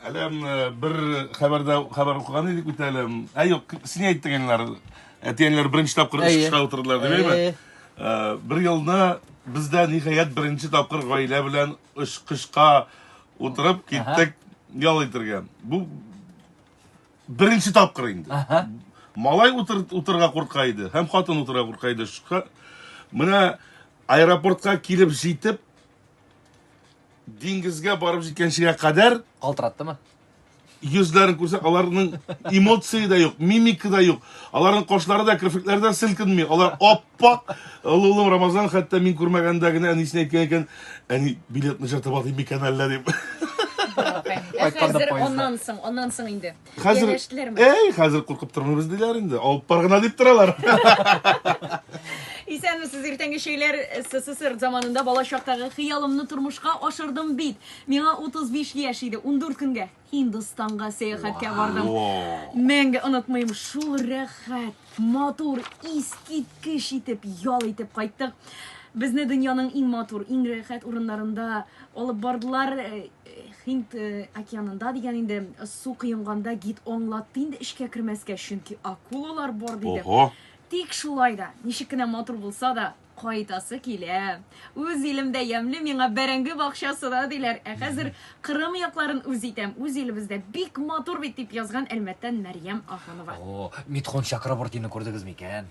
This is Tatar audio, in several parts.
Әле бер хәбәрдә хәбәр укыган идек бит әле. Ә юк, син әйттең әлләр. Әтиәнләр беренче тапкыр эш кышка утырдылар, димәйме? Бер елда бездә ниһаять беренче тапкыр гаилә белән эш кышка утырып киттек ял итәргә. Бу беренче тапкыр инде. Малай утыр утырга курка иде, һәм хатын утырга курка иде. Менә аэропортка килеп җитеп, Диңгезгә барып җиткәнчегә кадәр Калтыраттымы? йөзләрен күрсәк, аларның эмоции да юк, мимика да юк. Аларның кашлары да, керфекләре дә селкенми. Алар аппак. Олы улым Рамазан хәтта мин күрмәгәндә генә әнисенә әйткән икән, әни, билетны җыртып атыйм микән әллә дип. Ә Кайтканда хәзер поездда. аннан соң, аннан соң инде. Хәзер Янәштеләрме? Әй, хәзер куркып тормыйбыз диләр инде. Алып бар гына дип торалар. Исәнмесез, иртәнге чәйләр СССР заманында бала чактагы хыялымны тормышка ашырдым бит. Миңа 35 яшь иде, 14 көнгә Һиндстанга сәяхәткә бардым. Мәңге онытмыйм, шул рәхәт. Матур, искиткеч итеп ял итеп кайттык. Безне дөньяның иң матур, иң рәхәт урыннарында алып бардылар. Э, Хинд э, океанында дигән инде су кыенганда гид аңлатты инде эчкә кермәскә, чөнки акулалар бар диде. Ого. Тик шулай да, ничек кенә матур булса да, Кайтасы килә. Үз илемдә ямьле миңа бәрәңге бакчасы да диләр. Ә хәзер Кырым якларын үз итәм. Үз илебездә бик матур бит, дип язган Әлмәттән Мәрьям Ахунова. О, Митхун Чакрабортины күрдегез микән?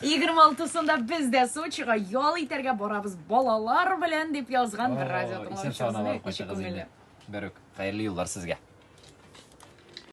26-сында без дә Сочига ял итәргә барабыз балалар белән, дип язган бер радио тыңлаучыбыз. Исән-сау гына барып кайтыгыз инде. Берүк. Хәерле юллар сезгә.